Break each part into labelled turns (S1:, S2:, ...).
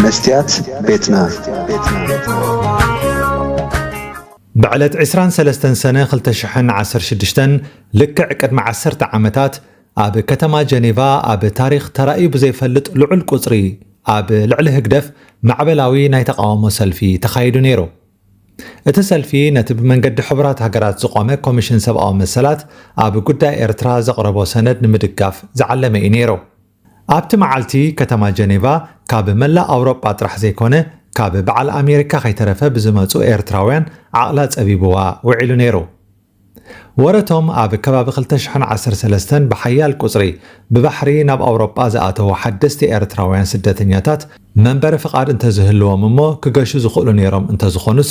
S1: መስትያት ቤትና
S2: ብዕለት ዕስራን ሰለስተን ሰነ ክልተ ሽሕን ዓሰርተ ሽዱሽተን ልክዕ ቅድሚ ዓሰርተ ዓመታት ኣብ ከተማ ጀኔቫ ኣብ ታሪኽ ተራእዩ ብዘይፈልጥ ልዑል ቁጽሪ ኣብ ልዕሊ ህግደፍ ማዕበላዊ ናይ ተቃውሞ ሰልፊ ተኻይዱ ነይሩ። እቲ ሰልፊ ነቲ ብመንገዲ ሕቡራት ሃገራት ዝቖመ ኮሚሽን ሰብኣዊ መሰላት ኣብ ጉዳይ ኤርትራ ዘቕረቦ ሰነድ ንምድጋፍ ዝዓለመ እዩ ነይሩ። ኣብቲ መዓልቲ ከተማ ጀኔቫ ካብ መላእ ኣውሮጳ ጥራሕ ዘይኮነ ካብ በዓል ኣሜሪካ ከይተረፈ ብዝመፁ ኤርትራውያን ዓቕላ ፀቢቡዋ ውዒሉ ነይሩ። ወረቶም ኣብ ከባቢ ክልተ ሽሕን ዓሰርተ ሰለስተን ብሓያል ቁፅሪ ብባሕሪ ናብ ኣውሮጳ ዝኣተዉ ሓደስቲ ኤርትራውያን ስደተኛታት መንበሪ ፍቓድ እንተዝህልዎም እሞ ክገሹ ዝኽእሉ ነይሮም እንተዝኾኑስ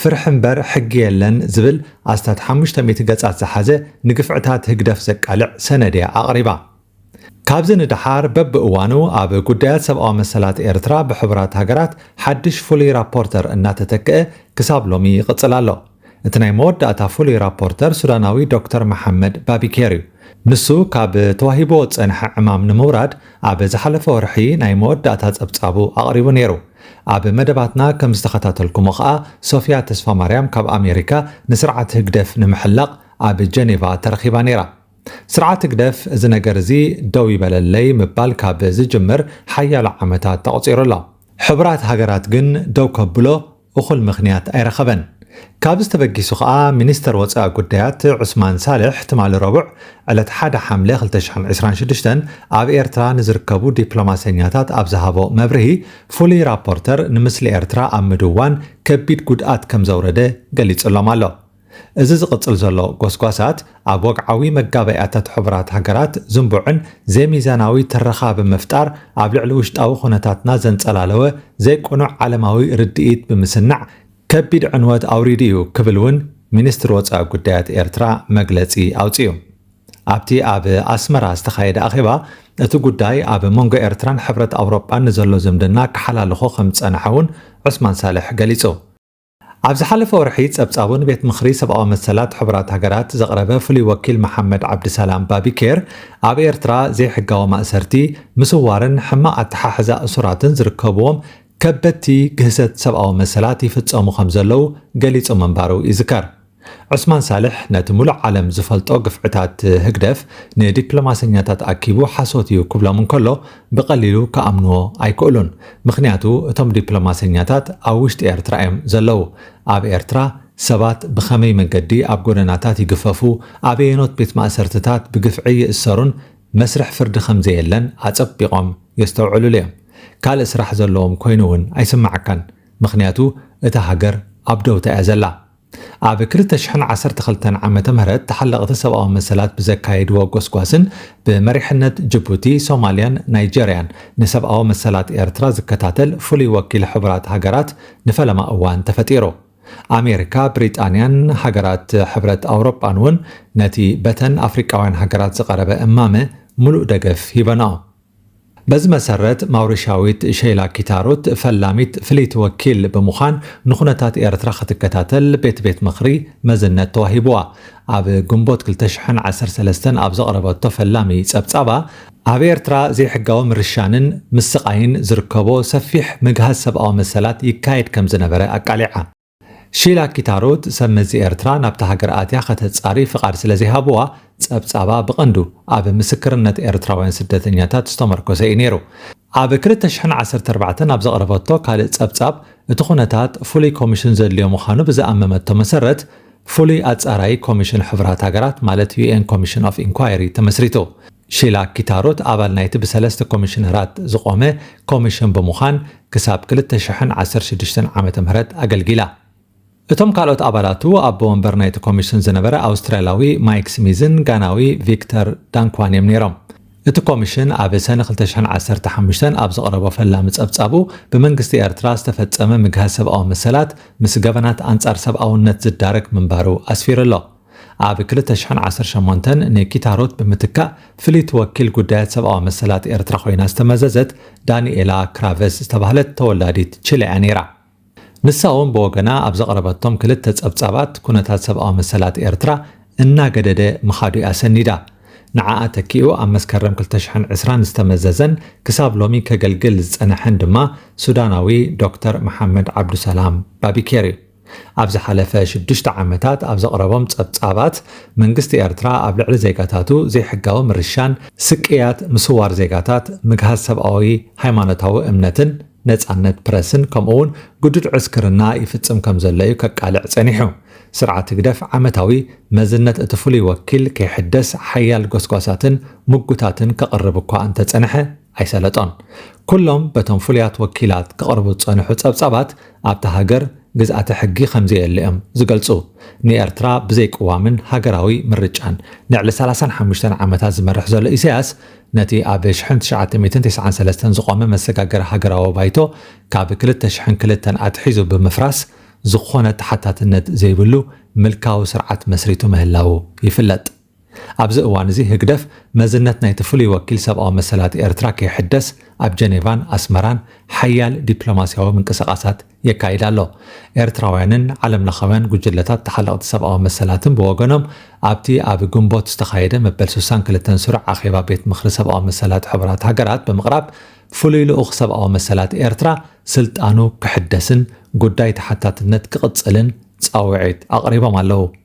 S2: ፍርሒ እምበር ሕጊ የለን ዝብል ኣስታት ሓሙሽተ ሚእቲ ገጻት ዝሓዘ ንግፍዕታት ህግደፍ ዘቃልዕ ሰነድ'ያ ኣቕሪባ። ካብዚ ንደሓር በብእዋኑ ኣብ ጉዳያት ሰብኣዊ መሰላት ኤርትራ ብሕቡራት ሃገራት ሓድሽ ፍሉይ ራፖርተር እናተተክኣ ክሳብ ሎሚ ይቕጽል ኣሎ። እቲ ናይ መወዳእታ ፍሉይ ራፖርተር ሱዳናዊ ዶክተር መሓመድ ባቢኬር'ዩ። ንሱ ካብ ተዋሂብዎ ዝጸንሐ ዕማም ንምውራድ ኣብ ዝሓለፈ ወርሒ ናይ መወዳእታ ጸብጻቡ ኣቕሪቡ ነይሩ። ኣብ መደባትና ከም ዝተኸታተልኩሞ ከኣ ሶፍያ ተስፋማርያም ካብ ኣሜሪካ ንስርዓት ህግደፍ ንምሕላቕ ኣብ ጀኔቫ ተረኺባ ነይራ። ስርዓት ህግደፍ እዚ ነገር እዚ ደው ይበለለይ ምባል ካብ ዝጅምር ሓያሎ ዓመታት ተቕጺሩ ኣሎ። ሕቡራት ሃገራት ግን ደው ከብሎ እኹል ምኽንያት ኣይረኸበን። ካብዚ ተበጊሱ ከኣ ሚኒስተር ወጻኢ ጉዳያት ዑስማን ሳልሕ ትማሊ ረቡዕ ዕለት ሓደ ሓምለ ክልተ ሽሕን ዕስራን ሽዱሽተን ኣብ ኤርትራ ንዝርከቡ ዲፕሎማሰኛታት ኣብ ዝሃቦ መብርሂ ፍሉይ ራፖርተር ንምስሊ ኤርትራ ኣብ ምድዋን ከቢድ ጉድኣት ከምዘውረደ ገሊጽሎም ኣሎ። እዚ ዝቕጽል ዘሎ ጎስጓሳት ኣብ ወግዓዊ መጋባእያታት ሕቡራት ሃገራት ዝንቡዕን ዘይሚዛናዊ ትረኻ ብምፍጣር ኣብ ልዕሊ ውሽጣዊ ኩነታትና ዘንጸላለወ ዘይቅኑዕ ዓለማዊ ርድኢት ብምስናዕ ከቢድ ዕንወት ኣውሪዱ እዩ ክብል እውን ሚኒስትሪ ወፃኢ ጉዳያት ኤርትራ መግለፂ ኣውፂኡ። ኣብቲ ኣብ ኣስመራ ዝተኻየደ ኣኼባ እቲ ጉዳይ ኣብ መንጎ ኤርትራን ሕብረት ኣውሮጳን ንዘሎ ዝምድና ክሓላልኾ ከምዝፀንሐ እውን ዑስማን ሳልሕ ገሊፁ። ኣብ ዝሓለፈ ወርሒ ፀብፃቡ ንቤት ምኽሪ ሰብኣዊ መሰላት ሕቡራት ሃገራት ዘቕረበ ፍሉይ ወኪል መሓመድ ዓብዲሰላም ባቢኬር ኣብ ኤርትራ ዘይሕጋዊ ማእሰርቲ፣ ምስዋርን ሕማቕ ኣተሓሕዛ እሱራትን ዝርከብዎም ከበድቲ ግህሰት ሰብኣዊ መሰላት ይፍጸሙ ከም ዘለዉ ገሊጹ ምንባሩ ይዝከር። ዑስማን ሳልሕ ነቲ ምሉእ ዓለም ዝፈልጦ ግፍዕታት ህግደፍ ንዲፕሎማሰኛታት ኣኪቡ ሓሶት እዩ ክብሎም እንከሎ ብቐሊሉ ክኣምንዎ ኣይክእሉን። ምኽንያቱ እቶም ዲፕሎማሰኛታት ኣብ ውሽጢ ኤርትራ እዮም ዘለዉ። ኣብ ኤርትራ ሰባት ብኸመይ መገዲ ኣብ ጎደናታት ይግፈፉ፣ ኣበየኖት ቤት ማእሰርትታት ብግፍዒ ይእሰሩን መስርሕ ፍርዲ ከምዘየለን ኣጸቢቆም የስተውዕልሉ እዮም ካልእ ስራሕ ዘለዎም ኮይኑ ውን ኣይስማዓካን ምኽንያቱ እታ ሃገር ኣብ ደውታ እያ ዘላ ኣብ ክልተ ሽሕን ዓሰርተ ክልተን ዓመተ ምህረት ተሓለቅቲ ሰብኣዊ መሰላት ብዘካየድዎ ጎስጓስን ብመሪሕነት ጅቡቲ ሶማልያን ናይጀርያን ንሰብኣዊ መሰላት ኤርትራ ዝከታተል ፍሉይ ወኪል ሕቡራት ሃገራት ንፈለማ እዋን ተፈጢሩ ኣሜሪካ፣ ብሪጣንያን ሃገራት ሕብረት ኣውሮጳን እውን ነቲ በተን ኣፍሪቃውያን ሃገራት ዝቐረበ እማመ ምሉእ ደገፍ ሂበንኦ። በዚ መሰረት ማውሪሻዊት ሸይላ ኪታሩት ፈላሚት ፍልይቲ ወኪል ብምዃን ንኩነታት ኤርትራ ክትከታተል ቤት ቤት ምኽሪ መዝነት ተዋሂቡዋ። ኣብ ግንቦት ክልተ ሽሕን ዓሰርተ ሰለስተን ኣብ ዘቕረበቶ ፈላሚ ጸብጻባ፣ ኣብ ኤርትራ ዘይሕጋዊ ምርሻንን ምስቓይን ዝርከቦ ሰፊሕ ምግሃስ ሰብኣዊ መሰላት ይካየድ ከም ዝነበረ ኣቃሊዓ። ሺላ ኪታሩት ሰብ መዚ ኤርትራ ናብታ ሃገር ኣትያ ከተጻሪ ፍቓድ ስለ ዘይሃብዋ፣ ጸብጻባ ብቐንዱ ኣብ ምስክርነት ኤርትራውያን ስደተኛታት ዝተመርኮሰ እዩ ነይሩ። ኣብ ክልተ ሽሕን ዓሰርተ ኣርባዕተን ኣብ ዘቕረበቶ ካልእ ጸብጻብ፣ እቲ ኩነታት ፍሉይ ኮሚሽን ዘድልዮ ምዃኑ ብዝኣመመቶ መሰረት፣ ፍሉይ ኣጻራዪ ኮሚሽን ሕቡራት ሃገራት ማለት UN Commission of Inquiry ተመስሪቱ። ሺላ ኪታሩት ኣባል ናይቲ ብሰለስተ ኮሚሽነራት ዝቖመ ኮሚሽን ብምዃን ክሳብ ክልተ ሽሕን ዓሰርተ ሽዱሽተን ዓመተ ምህረት ኣገልጊላ። እቶም ካልኦት ኣባላቱ ኣቦ ወንበር ናይቲ ኮሚሽን ዝነበረ ኣውስትራልያዊ ማይክ ስሚዝን ጋናዊ ቪክተር ዳንክዋን እዮም ነይሮም። እቲ ኮሚሽን ኣብ ሰነ ክልተ ሽሕን ዓሰርተ ሓሙሽተን ኣብ ዘቕረቦ ፈላሚ ጸብጻቡ ብመንግስቲ ኤርትራ ዝተፈጸመ ምግሃስ ሰብኣዊ መሰላት ምስ ገበናት ኣንጻር ሰብኣውነት ዝዳረግ ምንባሩ ኣስፊሩ ኣሎ። ኣብ ክልተ ሽሕን ዓሰርተ ሸሞንተን ንኪታ ሩት ብምትካእ ፍልይቲ ወኪል ጉዳያት ሰብኣዊ መሰላት ኤርትራ ኮይና ዝተመዘዘት ዳኒኤላ ክራቨስ ዝተባህለት ተወላዲት ቺለ'ያ ነይራ። ንሳ'ውን ብወገና ኣብ ዘቕረበቶም ክልተ ጸብጻባት ኩነታት ሰብኣዊ መሰላት ኤርትራ እናገደደ ምኻዱ'ያ ሰኒዳ። ንዓኣ ተኪኡ ኣብ መስከረም ክልተ ሽሕን ዕስራን ዝተመዘዘን ክሳብ ሎሚ ከገልግል ዝጸነሐን ድማ ሱዳናዊ ዶክተር መሓመድ ዓብዱሰላም ባቢኬር'ዩ። ኣብ ዝሓለፈ ሽዱሽተ ዓመታት ኣብ ዘቕረቦም ጸብጻባት፣ መንግስቲ ኤርትራ ኣብ ልዕሊ ዜጋታቱ ዘይሕጋዊ ምርሻን፣ ስቅያት፣ ምስዋር ዜጋታት፣ ምግሃስ ሰብኣዊ ሃይማኖታዊ እምነትን ነጻነት ፕረስን ከምኡ'ውን ግዱድ ዕስክርና ይፍጽም ከምዘሎ'ዩ ከቃልዕ ጸኒሑ። ስርዓት ህግደፍ ዓመታዊ መዝነት እቲ ፍሉይ ወኪል ከይሕደስ ሓያል ጎስጓሳትን ምጉታትን ከቕርብ እኳ እንተጸንሐ ኣይሰለጦን። ኩሎም በቶም ፍሉያት ወኪላት ክቐርቡ ዝጸንሑ ጸብጻባት ኣብታ ሃገር ግዝኣተ ሕጊ ከምዘየለ እዮም ዝገልጹ። ንኤርትራ ብዘይ ቅዋምን ሃገራዊ ምርጫን ልዕሊ ሰላሳን ሓሙሽተን ዓመታት ዝመርሕ ዘሎ ኢሳያስ፣ ነቲ ኣብ ሽሕን ትሽዓተ ሚእትን ተስዓን ሰለስተን ዝቖመ መሰጋገሪ ሃገራዊ ባይቶ ካብ ክልተ ሽሕን ክልተን ኣትሒዙ ብምፍራስ ዝኾነ ተሓታትነት ዘይብሉ ምልካዊ ስርዓት መስሪቱ ምህላዉ ይፍለጥ። ኣብዚ እዋን'ዚ ህግደፍ መዝነት ናይቲ ፍሉይ ወኪል ሰብኣዊ መሰላት ኤርትራ ከይሕደስ ኣብ ጀኔቫን ኣስመራን ሓያል ዲፕሎማስያዊ ምንቅስቓሳት የካይድ ኣሎ። ኤርትራውያንን ዓለምለኻውያን ጉጅለታት ተሓለቕቲ ሰብኣዊ መሰላትን ብወገኖም ኣብቲ ኣብ ግንቦት ዝተኻየደ መበል ስሳን ክልተን ስሩዕ ኣኼባ ቤት ምኽሪ ሰብኣዊ መሰላት ሕቡራት ሃገራት ብምቕራብ ፍሉይ ልኡኽ ሰብኣዊ መሰላት ኤርትራ ስልጣኑ ክሕደስን ጉዳይ ተሓታትነት ክቕጽልን ጻውዒት ኣቕሪቦም ኣለዉ።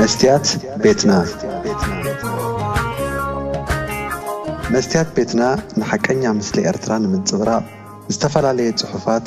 S1: መስትያት ቤትና መስትያት ቤትና ንሓቀኛ ምስሊ ኤርትራ ንምንጽብራቕ ዝተፈላለየ ጽሑፋት፣